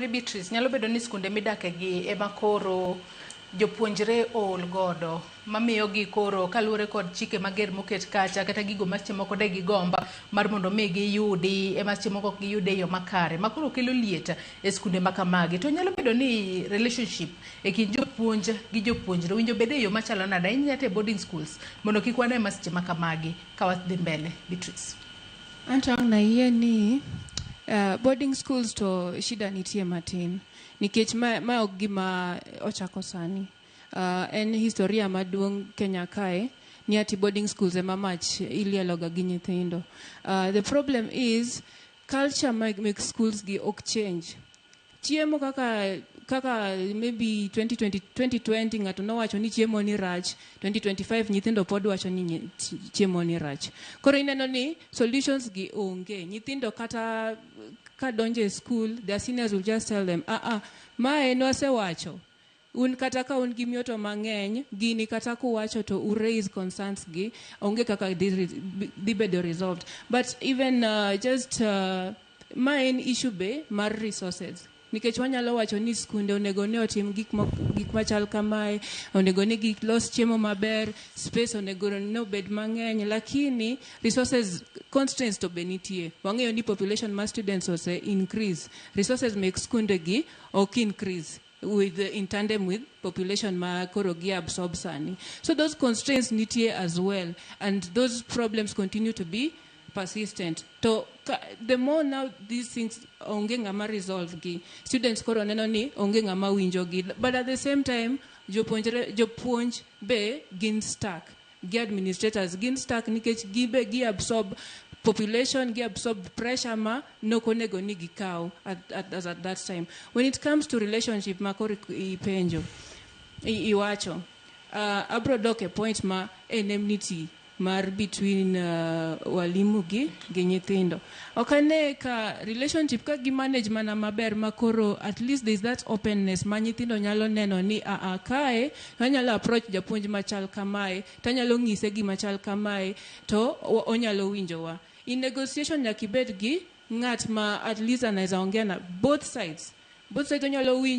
Mary Beatrice, nyalo bedo ni skunde midake gi ema koro jopuonjre ool godo mamiyo gi koro kaluwore kod chike mager moket kacha kata gigo ma seche moko de gigomba mar mondo mi giyudi ema seche moko ok giyude e yo makare ma koro kelo liet e skunde ma kamagi to nyalo bedo ni relationship e kind jopuonj gi jopuonjre winjo bede e yo machalo nade ahinya te boarding schools mondo kik wane ma seche ma kamagi ka wadhi mbele Beatrice. Anto ang' nayie ni uh, boarding schools to shida nitie matin nikech ma, ma ok gima ochako sani uh, en historia maduong' Kenya kae ni ati boarding schools ema mach ilieloga gi nyithindo uh, the problem is culture mag, mag schools gi ok change Chiemo kaka kaka maybe 2020, 2020 ng'ato nowacho ni chiemo ni rach 2025 nyithindo pod wacho ni nyi- chi- chiemo ni rach koro ineno ni solutions gi onge nyithindo kata ka donjo e school their seniors will just tell them ah ah ma en wasewacho Un kata ka un gi mioto mang'eny, gini kata kuwacho to u raise concerns gi, onge kaka dhi re- bi- dhi bedo resolved. But even uh, just uh, ma en issue be mar resources. Nikech wanyalo wacho ni skunde onego ne otim gik ma gik machal kamae, onego ne gik los chiemo maber, space onego ne obed mang'eny, lakini resources constraints to be nitie. Wang'eyo ni population mar students ose increase. Resources mek skunde gi ok increase. with in tandem with population ma koro gi absorb sani so those constraints nitie as well and those problems continue to be persistent to ka, the more now these things onge ng'ama resolve gi students koro neno ni onge ng'ama winjo gi but at the same time jopuonjre jopuonj be gin stuck gi administrators gin stuck nikech gibe gi absorb population gi absorb pressure ma nok onego ni gikaw at, at, as at that time when it comes to relationship ma koro ipenjo i- iwacho uh, abro dok e point ma enmity mar between uh, walimu gi gi nyithindo ok ane ka relationship ka gi manage mana maber ma koro at least there is that openness ma nyithindo nyalo neno ni aa kae Anyalo approach japuonj machal kamae to anyalo nyise gima chal kamae to onyalo winjowa. In negotiation nyaka ibed gi ng'at ma at least anaweza ongea na both sides. Both sides onyalo winji.